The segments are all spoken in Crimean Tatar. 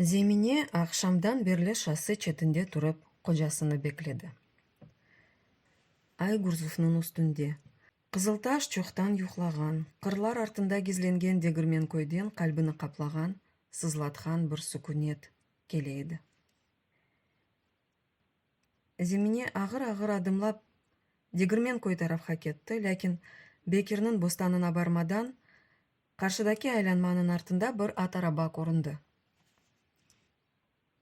Zemine aqşamdan berli şası çetinde turıp qocasını bekledi. Ay Gurzufnıñ üstünde. Qızıltaş çoqtan yuqlağan, qırlar artında gizlengen Degirmenköyden qalbini qaplağan, sızlatqan bir sukünet kele edi. Zemine ağır-ağır adımlap Degirmenköy tarafqa ketti, lâkin Bekirniñ bostanına barmadan, qarşıdaki aylanmanıñ artında bir at araba köründi.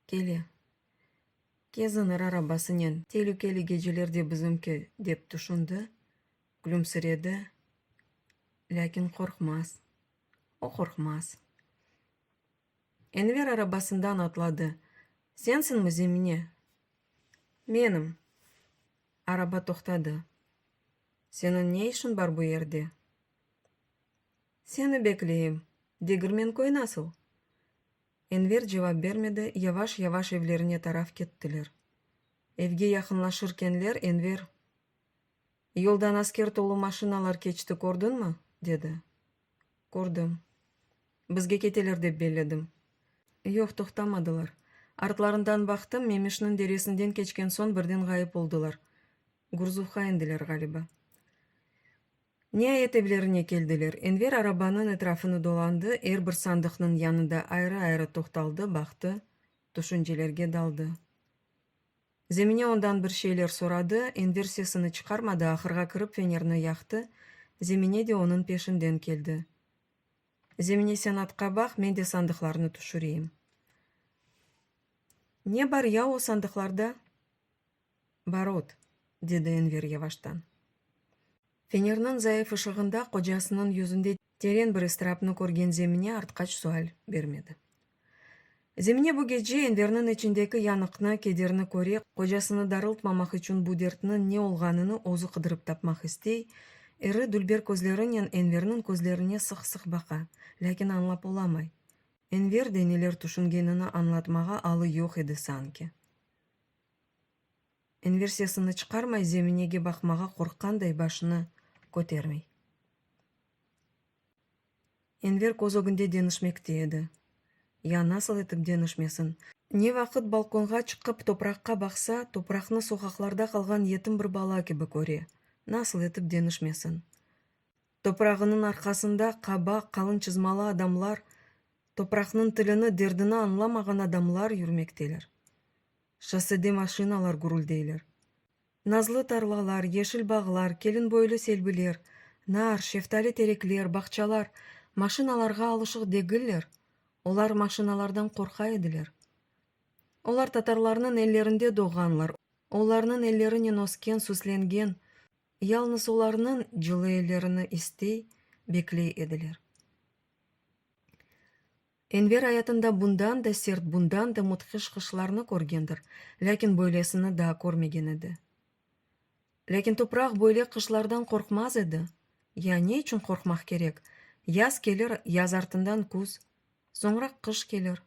Kele. Kezinir arabasınen telükeli gecelerde bizimki, dep tüşündi, külümsiredi, lâkin qorqmaz, o qorqmaz. Enver arabasından atladı. Sensiñmi, Zemine? Menim. Araba toqtadı. Seniñ ne işiñ bar bu yerde? Seni bekleyim. Degirmenköy nasıl? Enver cevap bermedi, yavaş-yavaş evlerine taraf kettiler. Evge yaqınlaşırkenler Enver. Yoldan asker tolu maşinalar keçti, kördiñmi? dedi. Kördim. Bizge keteler dep belledim. Yoq, toqtamadılar. Artlarından baqtım, Memişniñ deresinden keçken soñ birden ğayıp oldılar. Gurzuvqa endiler, ğaliba. Niayet evlerine keldiler. Enver arabanıñ etrafını dolandı, er bir sandıqnıñ yanında ayrı-ayrı toqtaldı, baqtı, tüşüncelerge daldı. Zemine ondan bir şeyler soradı, Enver sesini çıqarmadı, ahırğa kirip fenerni yaqtı, Zemine de onıñ peşinden keldi. Zemine sen atqa baq, men de sandıqlarnı tüşüreyim. Ne bar ya o sandıqlarda? Barot, dedi Enver yavaştan. Fenerniñ zayıf ışığında qocasınıñ yüzünde Teren bir ıstırapnı körgen Zemine artqaç sual bermedi. Zemine bu gece Enverniñ içindeki yanıqnı, kederni köre, qocasını darıltmamaq içün bu dertniñ ne olğanını özü qıdırıp tapmaq istey, iri dülber közlerinen Enverniñ közlerine sıq-sıq baqa, lâkin añlap olamay. Enver de neler tüşüngenini añlatmağa alı yoq edi sanki. İnversiyasını çıqarmay, zeminege baqmağa qorqqanday başını kötermey. Enver köz ögünde deñişmekte edi. Ya nasıl etip deñişmesin? Ne vaqıt balkonğa çıqıp topraqqa baqsa, topraqnı soqaqlarda qalğan yetim bir bala kibi köre, nasıl etip deñişmesin? Toprağınıñ arqasında qaba, qalın çızmalı adamlar, topraqnıñ tilini, derdini añlamağan adamlar yürmekteler. Şossede maşinalar gürüldeyler. Nazlı tarlalar, yeşil bağlar, kelinboylu selbiler, nar, şeftali terekler, bağçalar maşinalarğa alışıq degiller, olar maşinalardan qorqa ediler. Olar tatarlarnıñ ellerinde doğğanlar, olarnıñ ellerinen ösken, süslengen, yalnız olarnıñ cılı ellerini istey, bekley ediler. Enver ayatında bundan da sert, bundan da mudhiş qışlarnı körgendir, lâkin böylesini daa körmegen edi. Lâkin topraq böyle qışlardan qorqmaz edi. Ya ne içün qorqmaq kerek? Yaz kelir, yaz artından küz, soñra qış kelir.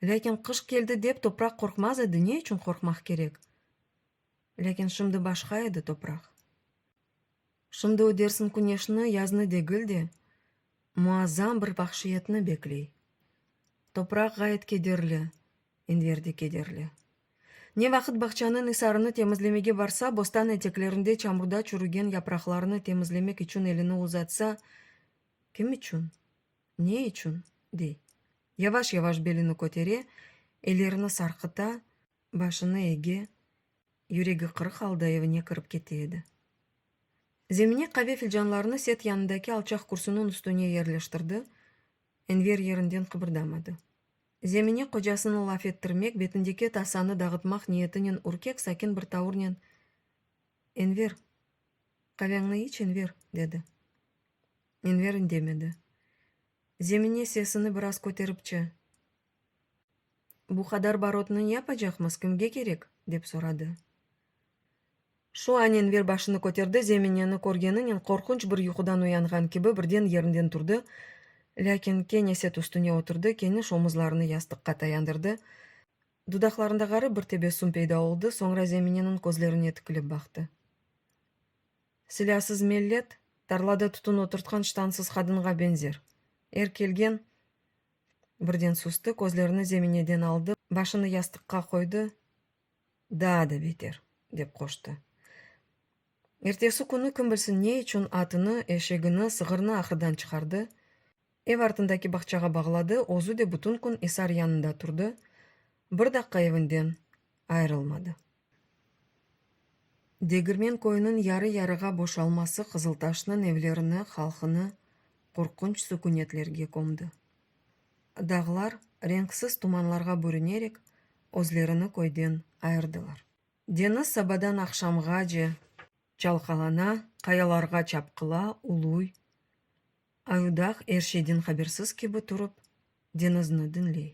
Lâkin qış keldi dep topraq qorqmaz edi, ne içün qorqmaq kerek? Lâkin şimdi başqa edi topraq. Şimdi o Dersim küneşini, yaznı degil de, muazzam bir vahşiyetni bekley. Topraq ğayet kederli, Enver de kederli. Ne vaqıt bağçanıñ isarını temizlemege barsa, bostan eteklerinde çamurda çürügen yapraqlarnı temizlemek içün elini uzatsa, Kim içün? Ne içün? dey. Yavaş-yavaş belini kötere, ellerini sarqıta, başını ege, Yüregi qırıq alda evine kirip kete edi. Zemine qave filcanlarını set yanındaki alçaq kürsünün üstüne yerleştirdi, Enver yerinden qıbırdamadı. Zemine qocasını laf ettirmek, betindeki tasanı dağıtmaq niyetinen ürkek, sakin bir tavurnen, Enver, qaveñni iç, Enver, dedi. Enver indemedi. Zemine sesini biraz köteripçe. Bu qadar barotnı ne yapacaqmız, kimge kerek? dep soradı. Şu an Enver başını köterdi, Zemineni körgeninen qorqunç bir yuqudan uyanğan kibi birden yerinden turdı, lâkin kene set üstüne oturdı, keniş omuzlarını yastıqqa tayandırdı. Dudaqlarında ğarip bir tebessüm peyda oldı, soñra Zemineniñ közlerine tikilip baqtı. Silâsız mellet, tarlada tütün oturtqan ştansız qadınğa beñzer. Er kelgen. Birden sustu, közlerini zemineden aldı, başını yastıqqa qoydı, daa da beter, dep qoştı. Ertesi künü kim bilsin ne içün atını, eşegini, sığırnı ahırdan çıqardı, ev artındaki bağçağa bağladı, özü de bütün kün isar yanında turdı, bir daqqa evinden ayırılmadı. Degirmen köyüniñ yarı-yarığa boşalması Qızıltaşnıñ evlerini, halqını qorqunç sükünetlerge kömdi. Dağlar renksiz tumanlarğa bürünerek özlerini köyden ayırdılar. Deñiz sabadan aqşamğace çalqalana, qayalarğa çapqıla, uluy. Ayudağ er şeyden habersiz kibi turıp, deñizni diñley.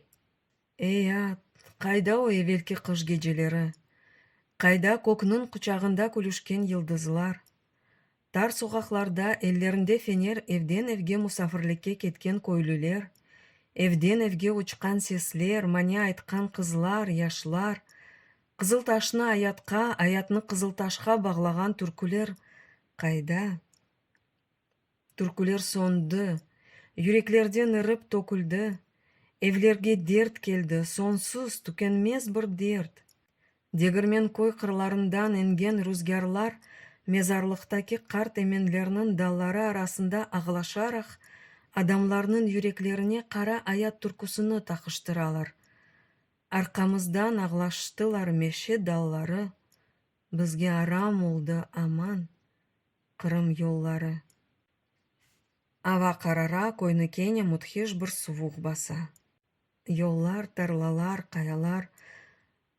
Ey, at, qayda o evelki qış geceleri? Qayda kökniñ quçağında külüşken yıldızlar? Tar soqaqlarda ellerinde fener evden evge musafirlikke ketken köylüler, evden evge uçqan sesler, mane aytqan qızlar, yaşlar, Qızıltaşnı ayatqa, ayatnı Qızıltaşqa bağlağan türküler qayda? Türküler soñdı, yüreklerden irip töküldi, Evlerge dert keldi, soñsuz, tükenmez bir dert. Degirmen köy qırlarından eñgen ruzgârlar Mezarlıqtaki qart emenlerniñ dalları arasında ağlaşaraq, Adamlarnıñ yüreklerine qara ayat türküsini taqıştıralar. Arqamızdan ağlaştılar meşe dalları, Bizge aram oldı aman, Qırım yolları. Ava qarara, köyni kene müthiş bir suvuq basa. Yollar, tarlalar, qayalar,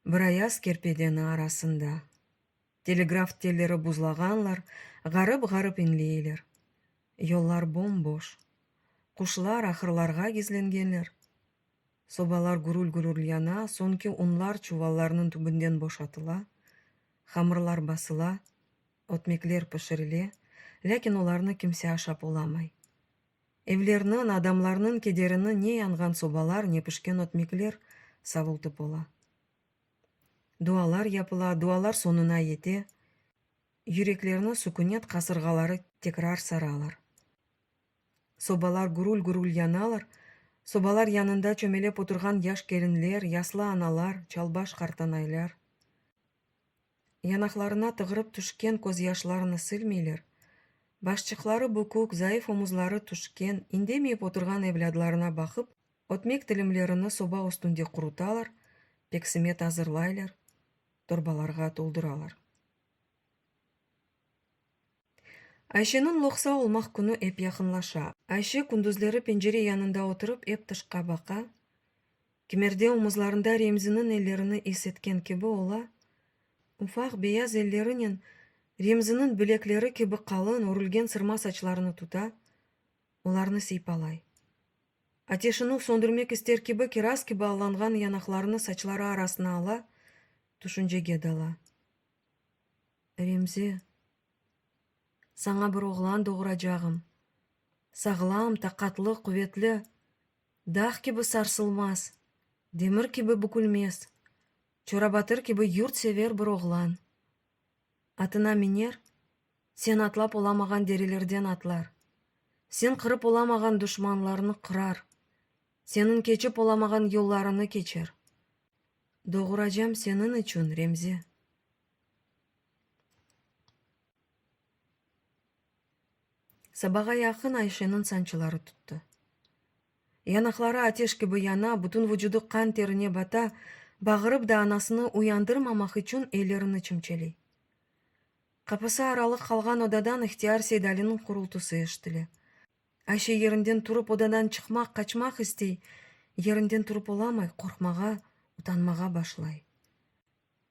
bir ayaz kerpedeni arasında. Telegraf telleri buzlağanlar, ğarıp-ğarıp inleyler. Yollar bom-boş. Quşlar ahırlarğa gizlengenler. Sobalar gürül-gürül yana, soñki unlar çuvallarnıñ tübünden boşatıla, hamırlar basıla. Ötmekler pişirile, lâkin olarnı kimse aşap olamay. Evlerniñ, adamlarnıñ kederini ne yanğan sobalar, ne pişken ötmekler savultıp ola. Dualar yapıla, dualar soñuna yete, yüreklerni sukünet qasırğaları tekrar saralar. Sobalar gürül-gürül yanalar, sobalar yanında çömelep oturğan yaş kelinler, yaslı analar, çalbaş qartanaylar. Yanaqlarına tığırıp tüşken közyaşlarını silmeyler, başçıqları bükük, zayıf omuzları tüşken, indemeyip oturğan evlâdlarına baqıp, ötmek tilimlerini soba üstünde qurutalar, peksimet azırlaylar, torbalarğa tolduralar. Ayşeniñ loqsa olmaq künü ep yaqınlaşa. Ayşe kündüzleri pencere yanında oturıp ep tışqa baqa. Kimerde omuzlarında Remziniñ ellerini is etken kibi ola. Ufaq beyaz ellerinen Remziniñ bilekleri kibi qalın örülgen sırma saçlarını tuta, olarnı siypalay. Ateşiniñ söndürmek ister kibi kiraz kibi allanğan yanaqlarını saçları arasına ala, tüşüncege dala. Remzi, saña bir oğlan doğuracağım, sağlam, taqatlı, quvetli, dağ kibi sarsılmaz, demir kibi bükülmez, çorabatır kibi yurtsever bir oğlan. Atına miner, sen atlap olamağan derelerden atlar, sen qırıp olamağan duşmanlarnı qırar, seniñ keçip olamağan yollarını keçer. Doğuracam seniñ içün, Remzi. Sabağa yaqın Ayşeniñ sançıları tuttı. Yanaqları ateş kibi yana, bütün vucudı qan terine bata, bağırıp da anasını uyandırmamaq içün ellerini çimçeley. Qapısı aralı qalğan odadan ihtiyar Seydaliniñ qurultısı eşitile. Ayşe yerinden turıp odadan çıqmaq, qaçmaq istey, yerinden turıp olamay, qorqmağa, utanmağa başlay.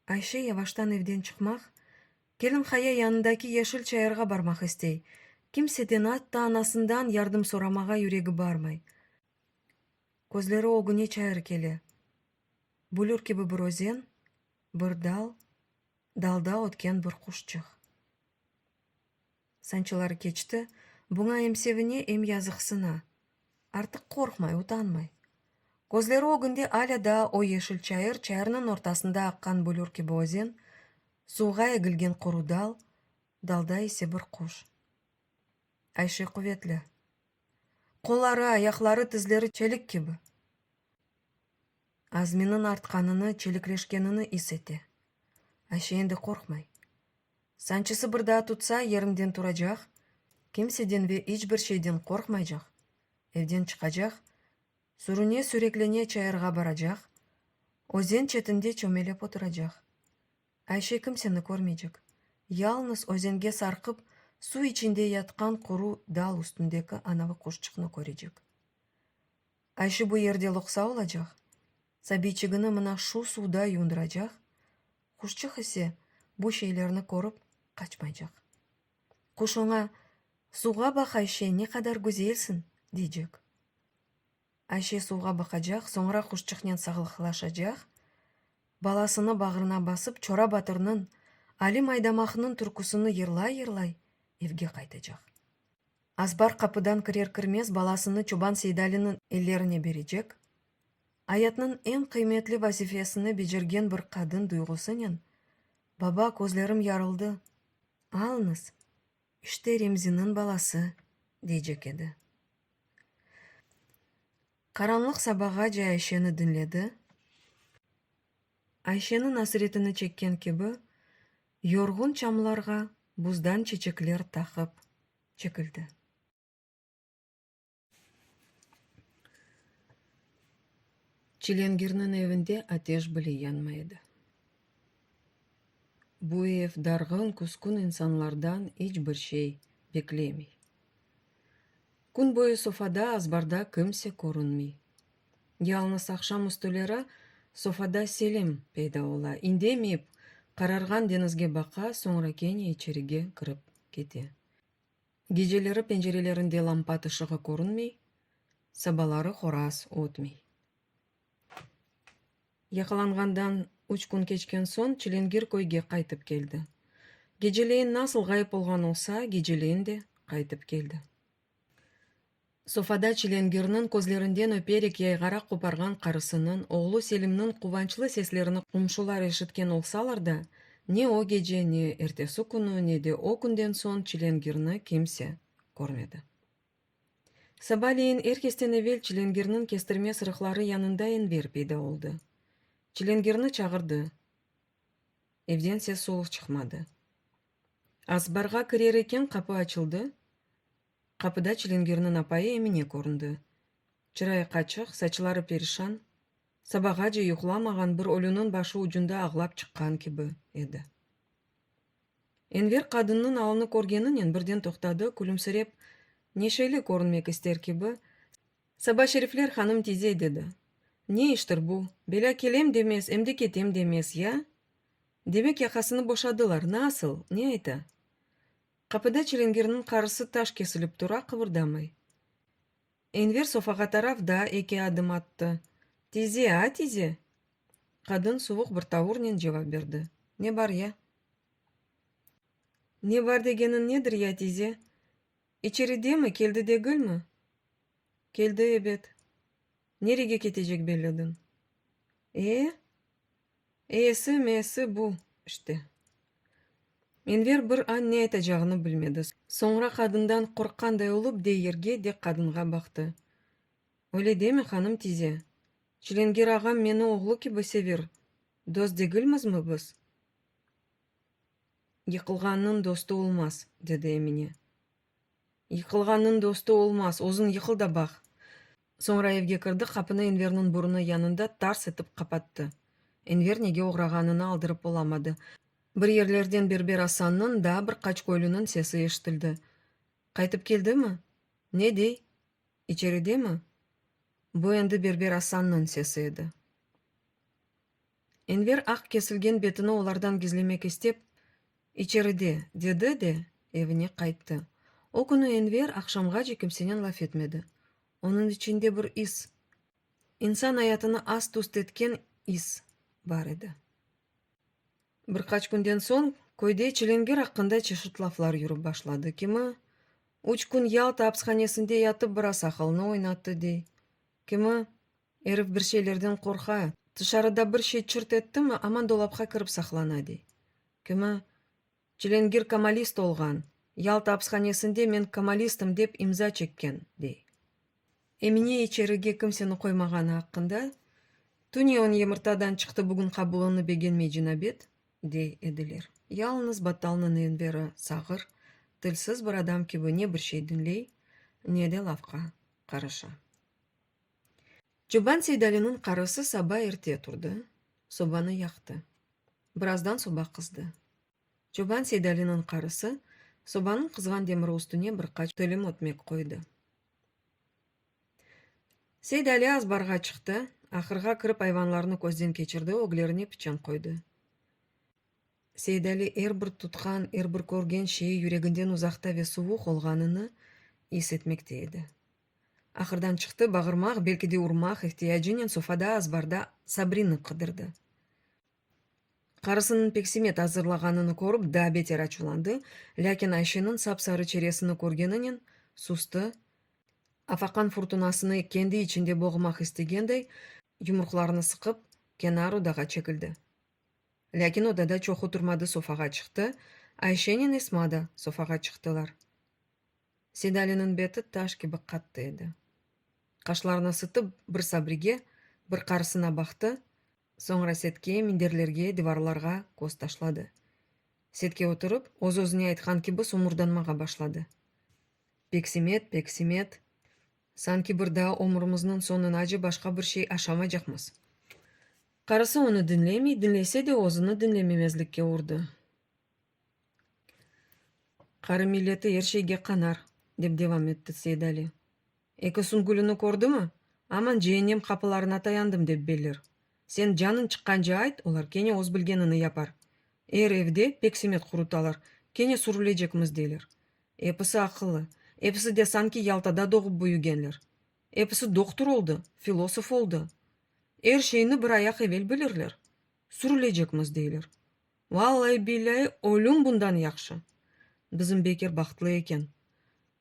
Ayşe yavaştan evden çıqmaq, kelin qaya yanındaki yeşil çayırğa barmaq istey, kimseden, atta anasından yardım soramağa yüregi barmay. Közleri ögüne çayır kele. Bulür kibi bir özen, bir dal, dalda ötken bir quşçıq. Sancılar keçti, buña em sevine, em yazıqsına. Artıq qorqmay, utanmay. Közleri ögünde alâ daa o yeşil çayır, çayırnıñ ortasında aqqan bulür kibi özen, suvğa egilgen quru dal, dalda ise bir quş. Ayşe quvetli. Qolları, ayaqları, tizleri çelik kibi. Azminiñ artqanını, çelikleşkenini is ete. Ayşe endi qorqmay. Sancısı bir daa tutsa, yerinden turacaq, kimseden ve iç bir şeyden qorqmaycaq, evden çıqacaq, sürüne-süreklene çayırğa baracaq, özen çetinde çömelep oturacaq. Ayşe kimseni körmeycek, yalnız özenge sarqıp suv içinde yatqan quru dal üstündeki anavi quşçıqnı körecek. Ayşe bu yerde loqsa olacaq. Sabiyçigini mına şu suvda yundıracaq, quşçıq ise bu şeylerni körip qaçmaycaq. Quş oña, Suvğa baq, Ayşe, ne qadar güzelsiñ! deycek. Ayşe suvğa baqacaq, soñra quşçıqnen sağlıqlaşacaq, balasını bağrına basıp, Çora batırnıñ, Alim Aydamaqnıñ türküsini yırlay-yırlay evge qaytacaq. Azbar qapıdan kirer-kirmez balasını çoban Seydaliniñ ellerine berecek, Ayatnıñ eñ qıymetli vazifesini becergen bir qadın duyğusınen, Baba, közlerim yarıldı, alıñız, işte Remziniñ balası, deycek edi. Qaranlıq sabağace Ayşeni diñledi. Ayşeniñ asretini çekken kibi, yorğun çamlarğa buzdan çeçekler taqıp çekildi. Çilingirniñ evinde ateş bile yanmay edi. Bu ev darğın, küskün insanlardan iç bir şey beklemey. Kün boyu sofada, azbarda kimse körünmey. Yalıñız aqşam üstüleri sofada Selim peyda ola, indemeyip, qararğan deñizge baqa, soñra kene içerige kirip kete. Geceleri pencerelerinde lampat ışığı körünmey, sabaları horaz ötmey. Yaqalanğandan üç kün keçken soñ Çilingir köyge qaytıp keldi. Geceleyin nasıl ğayıp olğan olsa, geceleyin de qaytıp keldi. Sofada Çilengirniñ közlerinden öperek yayğara qoparğan qarısınıñ, oğlu Selimniñ quvançlı seslerini qomşular eşitken olsalar da, ne o gece, ne ertesi künü, ne de o künden soñ Çilengirni kimse körmedi. Sabaleyin er kesten evel Çilengirniñ kestirme sırıqları yanında Enver peyda oldı. Çilengirni çağırdı. Evden ses-soluq çıqmadı. Azbarğa kirer eken, qapı açıldı. Qapıda Çilingirniñ apayı Emine köründi. Çırayı qaçıq, saçları perişan, sabağace yuqlamağan bir ölüniñ başı ucunda ağlap çıqqan kibi edi. Enver qadınnıñ alnı körgeninen birden toqtadı, külümsirep, neşeli körünmek ister kibi, Saba Şerifler hanım tize, dedi. Ne iştir bu, belâ kelem demez, em de ketem demez, ya? Demek yaqasını boşadılar, nasıl, ne ayta? Qapıda çilingirniñ qarısı taş kesilip tura, qıbırdamay. Enver sofağa taraf daa eki adım attı. Tize, a tize! Qadın suvuq bir tavurnen cevap berdi. Ne bar ya? Ne bar degeniñ nedir ya, tize? İçeridemi, keldi degilmi? Keldi, ebet. Nerege ketecek belledin? E? Eesi-meesi bu, işte. Enver bir an ne aytacağını bilmedi. Soñra qadından qorqqanday olıp de yerge, de qadınğa baqtı. Öyle deme, hanım tize. Çilengir ağam meni oğlu kibi sever, dost degilmizmi biz? Yıqılğannıñ dostu olmaz, dedi Emine. Yıqılğannıñ dostu olmaz, özüñ yıqıl da baq! Soñra evge kirdi, qapını Enverniñ burunı yanında tars etip qapattı. Enver nege oğrağanını aldırıp olamadı. Bir yerlerden Berber Asannıñ, daa bir qaç köylüniñ sesi eşitildi. Qaytıp keldimi? Ne dey? İçeridemi? Bu endi Berber Asannıñ sesi edi. Enver aq kesilgen betini olardan gizlemek istep, İçeride, dedi de, evine qayttı. O künü Enver aqşamğace kimsenen laf etmedi. Onıñ içinde bir is, insan ayatını ast-üst etken is bar edi. Bir qaç künden soñ köyde Çilingir aqqında çeşit laflar yürip başladı. Kimi, üç kün Yalta apshanesinde yatıp biraz aqılını oynattı, dey, kimi, Erif bir şeylerden qorqa, tışarıda bir şey çırt ettimi, aman dolapqa kirip saqlana, dey. Kimi, Çilengir kamalist olğan, Yalta apishanesinde men kamalistim dep imza çekken, dey. Emine içerige kimseni qoymağanı aqqında, Tüne on yımırtadan çıqtı, bugün qabulını begenmey cinabet, dey ediler. Yalıñız Battalnıñ Enveri sağır, tilsiz bir adam kibi ne bir şey diñley, ne de lafqa qarışa. Çoban Seydaliniñ qarısı saba erte turdı, sobanı yaqtı. Birazdan soba qızdı. Çoban Seydaliniñ qarısı sobanıñ qızğan demiri üstüne bir qaç tilim ötmek qoydı. Seydali azbarğa çıqtı, ahırğa kirip ayvanlarnı közden keçirdi, öglerine piçan qoydı. Seydali er bir tutqan, er bir körgen şeyi yüreginden uzaqta ve suvuq olğanını is etmekte edi. Ahırdan çıqtı, bağırmaq, belki de urmaq ihtiyacınen sofada, azbarda Sabrinı qıdırdı. Qarısınıñ peksimet azırlağanını körip, daa beter açuvlandı, lâkin Ayşeniñ sap-sarı çeresini körgeninen, sustı, afaqan furtunasını kendi içinde boğmaq istegendey, yumruqlarını sıqıp, kenar odağa çekildi. Lâkin odada çoq oturmadı, sofağa çıqtı, Ayşennen Esma da sofağa çıqtılar. Sedaliniñ beti taş kibi qattı edi. Qaşlarını sıtıp, bir Sabrige, bir qarısına baqtı, soñra Setke, minderlerge, divarlarğa köz taşladı. Setke oturıp, öz-özüne aytqan kibi somurdanmağa başladı. Peksimet, Peksimet. Sanki bir daa ömrümizniñ soñunacı başqa bir şey aşamaycaqmız. Qarısı onı diñlemey, diñlese de, özüni diñlememezlikke urdı. Qırım milleti er şeyge qanar, dep devam etti Seidali. Eki süngülini kördimi, aman ceennem qapılarına tayandım, dep belir. Sen canıñ çıqqance ayt, olar kene öz bilgenini yapar. Er evde peksimet qurutalar, kene sürülecekmiz deyler. Episi aqıllı, episi de sanki Yaltada doğıp-büyügenler. Episi doktur oldı, filosof oldı. Er şeyni bir ayaq evel bilirler. Sürülecekmiz deyler. Vallay-billay, ölüm bundan yahşı! Bizim Bekir bahtlı eken.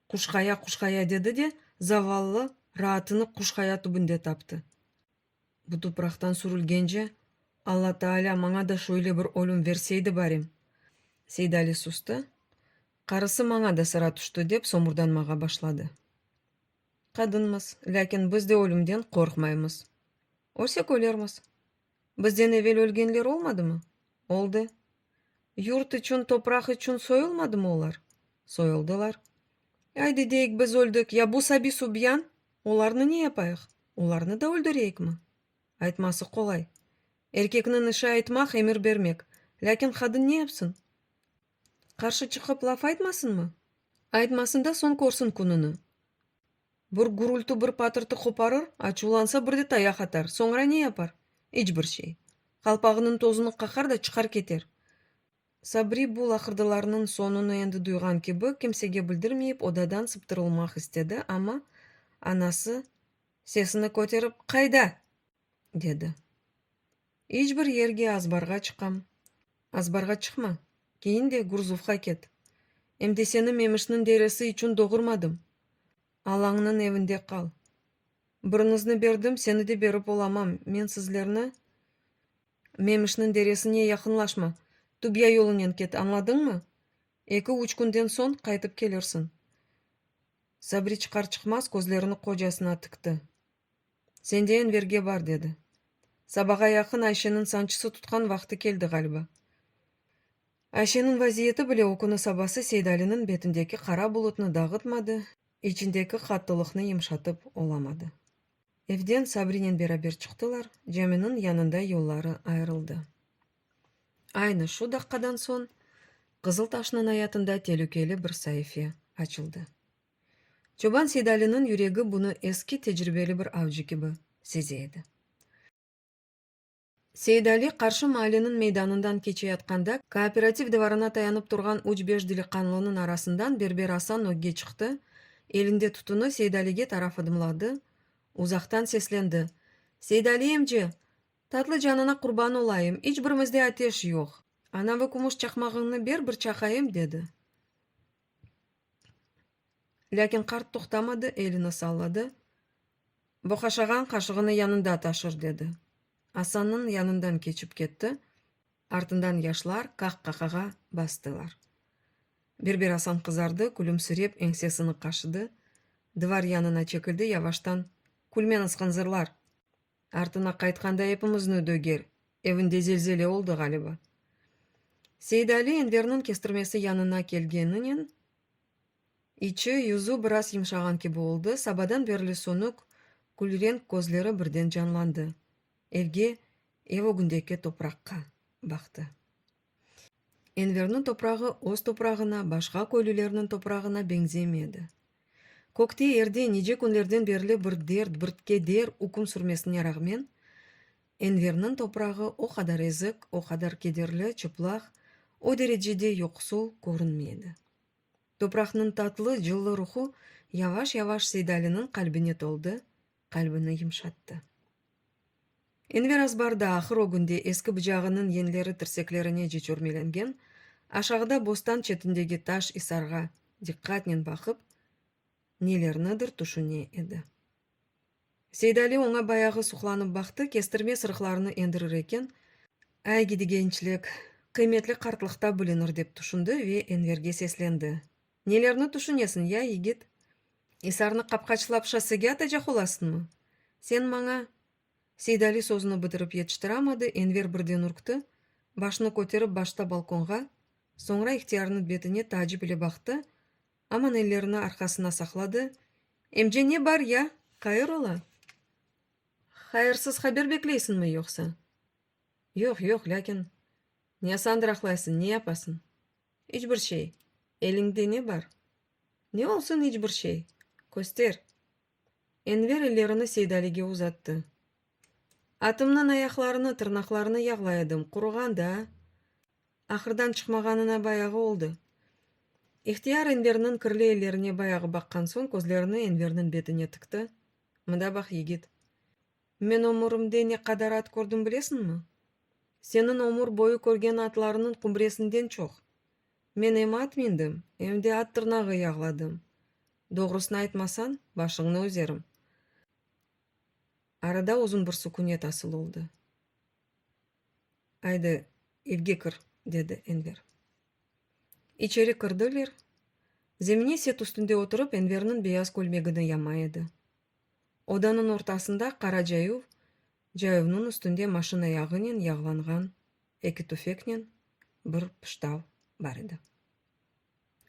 Quşqaya, quşqaya dedi de, zavallı, raatını quşqaya tübünde taptı. Bu tupraqtan sürülgence, Alla Taalâ maña da şöyle bir ölüm verseydi barim! Seydali sustı, qarısı maña da sıra tüşti, dep somurdanmağa başladı. Qadınmız, lâkin biz de ölümden qorqmaymız. Ölsek ölermiz. Bizden evel ölgenler olmadımı? Oldı. Yurt içün, topraq içün soyulmadımı olar? Soyuldılar. Aydı deyik, biz öldik, ya bu Sabi Subyan? Olarnı ne yapayıq? Olarnı da öldüreyikmi? Aytması qolay. Erkekniñ işi aytmaq, emir bermek. Lâkin qadın ne yapsın? Qarşı çıqıp laf aytmasınmı? Aytmasın da, soñ körsün kününi. Bir gürülti, bir patırtı qoparır, açuvlansa, bir de tayaq atar. Soñra ne yapar? İç bir şey. Qalpağınıñ tozunı qaqar da çıqar keter. Sabri bu laqırdılarnıñ soñunı endi duyğan kibi, kimsege bildirmeyip, odadan sıptırılmaq istedi, amma anası sesini köterip, Qayda? dedi. İç bir yerge azbarğa çıqam, azbarğa çıqma, keyin de Gurzuvğa ket. Em de seni Memişniñ deresi içün doğurmadım. Alañnıñ evinde qal. Biriñizni berdim, seni de berip olamam, men sizlerni, Memişniñ deresine yaqınlaşma, Tubya yolunen ket, añladıñmı? Eki-üç künden soñ qaytıp kelirsiñ. Sabri çıqar-çıqmaz közlerini qocasına tikti. Sendeyen verge bar, dedi. Sabağa yaqın Ayşeniñ sançısı tutqan vaqtı keldi ğaliba. Ayşeniñ vaziyeti bile o künü sabası Seydaliniñ betindeki qara bulutnı dağıtmadı, içindeki qattılıqnı yımşatıp olamadı. Evden Sabrinen beraber çıqtılar, caminiñ yanında yolları ayırıldı. Aynı şu daqqadan soñ Qızıltaşnıñ ayatında telükeli bir saife açıldı. Çoban Seydaliniñ yüregi bunı eski tecribeli bir avcı kibi seze edi. Seydali qarşı maaleniñ meydanından keçeyatqanda, kooperativ divarına tayanıp turğan üç-beş diliqanlınıñ arasından Berber Asan ögge çıqtı, elinde tütüni Seydalige taraf adımladı, uzaqtan seslendi, Seydali emce! Tatlı canına qurban olayım, iç birimizde ateş yoq, anavi kümüş çaqmağıñnı ber bir çaqayım, dedi. Lâkin qart toqtamadı, elini salladı, boqaşağan qaşığını yanında taşır, dedi. Asannıñ yanından keçip ketti, artından yaşlar qah-qaqağa bastılar. Bir-bir Asan qızardı, külümsirep, eñsesini qaşıdı, divar yanına çekildi, yavaştan, Külmeñiz, hınzırlar! Artına qaytqanda epimizni döger. Evinde zelzele oldı ğaliba. Seidali Enverniñ kestirmesi yanına kelgeninen içi, yüzü biraz yımşağan kibi oldı, sabadan berli sönük külrenk közleri birden canlandı. Evge, ev ögündeki topraqqa baqtı. Enverniñ toprağı öz toprağına, başqa köylülerniñ toprağına beñzemey edi. Kökte yerde nice künlerden berli bir dert, bir keder üküm sürmesine rağmen, Enverniñ toprağı o qadar ezik, o qadar kederli, çıplaq, o derecede yoqsul körünmey edi. Topraqnıñ tatlı, cıllı ruhu yavaş-yavaş Seydaliniñ qalbine toldı, Qalbini yımşattı. Enver azbarda, ahır o günde eski bıcağınıñ yenleri tirseklerine cecürmelengen, aşağıda bostan çetindegi taş isarğa diqqatnen baqıp, nelernidir tüşüne edi. Seydali oña bayağı suqlanıp baqtı, kestirme sırıqlarını endirir eken, Ay, gidigençlik, qıymetli qartlıqta bilinir, dep tüşündi ve Enverge seslendi. Nelerni tüşünesiñ, ya, yigit? İsarnı qapqaçlap şossege atacaq olasıñmı? Sen maña. Seydali sözüni bitirip yetiştiramadı, Enver birden ürkti, başını köterip başta balkonğa, soñra ihtiyarnıñ betine taacip ile baqtı, aman ellerini arqasına saqladı, Emce, ne bar, ya? Hayır ola? Hayırsız haber bekleysiñmi, yoqsa? Yoq, yoq, lâkin. Niasandır aqlaysıñ, ne yapasıñ? İç bir şey. Eliñde ne bar? Ne olsun iç bir şey? Köster! Enver ellerini Seydalige uzattı. Atımnıñ ayaqlarını, tırnaqlarını yağlay edim, quruğandı, a? Ahırdan çıqmağanına bayağı oldı. İhtiyar Enverniñ kirli ellerine bayağı baqqan soñ közlerini Enverniñ betine tıktı, Mında bax, yigit. Men ömürimde ne qadar at kördim bilesiñmi? Seniñ ömür boyu körgen atlarınıñ qumbresinden çoq. Men em at mindim, em de at tırnağı yağladım. Doğrusını aytmasañ, başıñnı üzerim. Arada uzun bir sukünet asıl oldı. Aydı, evge kir, dedi Enver. İçeri kirdiler. Zemine set üstünde oturıp Enverniñ beyaz kölmegini yama edi. Odanıñ ortasında qara cayuv, cayuvnıñ üstünde maşina yağınen yağlanğan eki tüfeknen bir pıştav bar edi.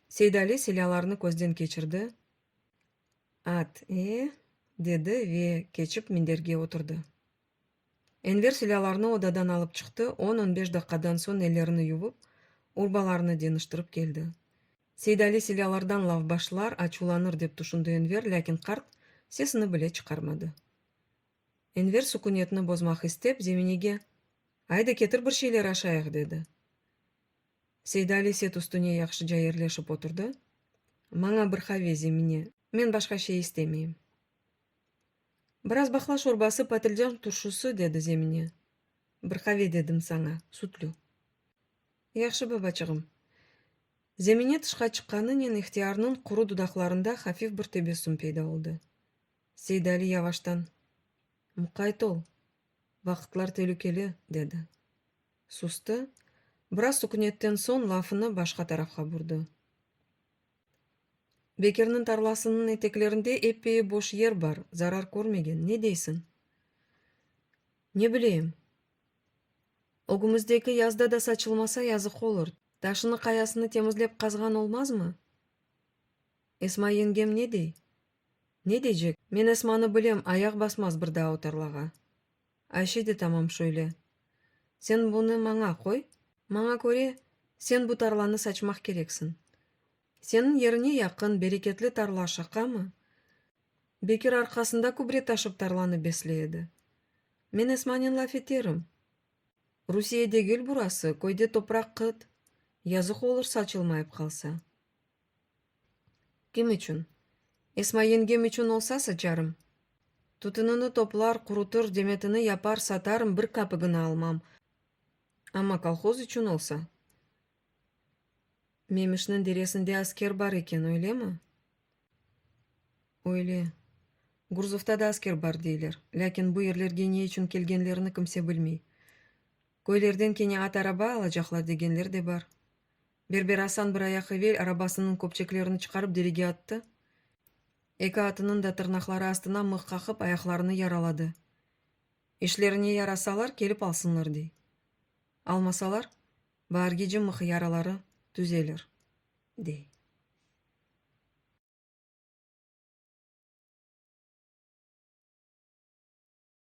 Seydali silâlarnı közden keçirdi, At, e, dedi ve keçip minderge oturdı. Enver silâlarnı odadan alıp çıqtı, on-on beş daqqadan soñ ellerini yuvıp, urbalarını deñiştirip keldi. Seydali silâlardan laf başlar, açuvlanır dep tüşündi Enver, lâkin qart sesini bile çıqarmadı. Enver sukünetni bozmaq istep, Zeminege, Aydı, ketir bir şeyler aşayıq, dedi. Seydali set üstüne yahşıca yerleşip oturdı, Maña bir qave, Zemine, men başqa şey istemeyim. Biraz bahla şorbası, patlıcan turşusı, dedi Zemine. Bir qave dedim saña, sütlü. Yahşı, babaçığım. Zemine tışqa çıqqanınen ihtiyarnıñ quru dudaqlarında hafif bir tebessüm peyda oldı. Seydali yavaştan, Muqayt ol, vaqıtlar telükeli, dedi. Sustı, biraz sukünetten soñ lafını başqa tarafqa burdı. Bekirniñ tarlasınıñ eteklerinde eppeyi boş yer bar, zarar körmegen, ne deysiñ? Ne bileyim. Ögümizdeki yazda da saçılmasa, yazıq olur. Taşını, qayasını temizlep qazğan olmazmı? Esma yengem ne dey? Ne deycek? Men Esmanı bilem, ayaq basmaz bir daa o tarlağa. Ayşe de tamam şöyle. Sen bunı maña qoy. Maña köre, sen bu tarlanı saçmaq kereksiñ. Seniñ yerine yaqın, bereketli tarla şaqamı? Bekir arqasında kübre taşıp tarlanı besley edi. Men Esmanen laf eterim. Rusiye degil burası, köyde topraq qıt, yazıq olur saçılmayıp qalsa. Kim içün? Esma yengem içün olsa saçarım. Tütünini toplar, qurutır, demetini yapar, satarım, bir kapıgını almam. Amma kolhoz içün olsa? Memişniñ deresinde asker bar eken, öylemi? Öyle. Gurzufta da asker bar deyler. Lâkin bu yerlerge ne içün kelgenlerini kimse bilmey. Köylerden kene at-araba alacaqlar degenler de bar. Berber Asan bir ayaq evel arabasınıñ köpçeklerini çıqarıp derege attı, eki atınıñ da tırnaqları astına mıh qaqıp, ayaqlarını yaraladı. İşlerine yarasalar, kelip alsınlar, dey. Almasalar, baargeci mıh yaraları tüzelir, dey.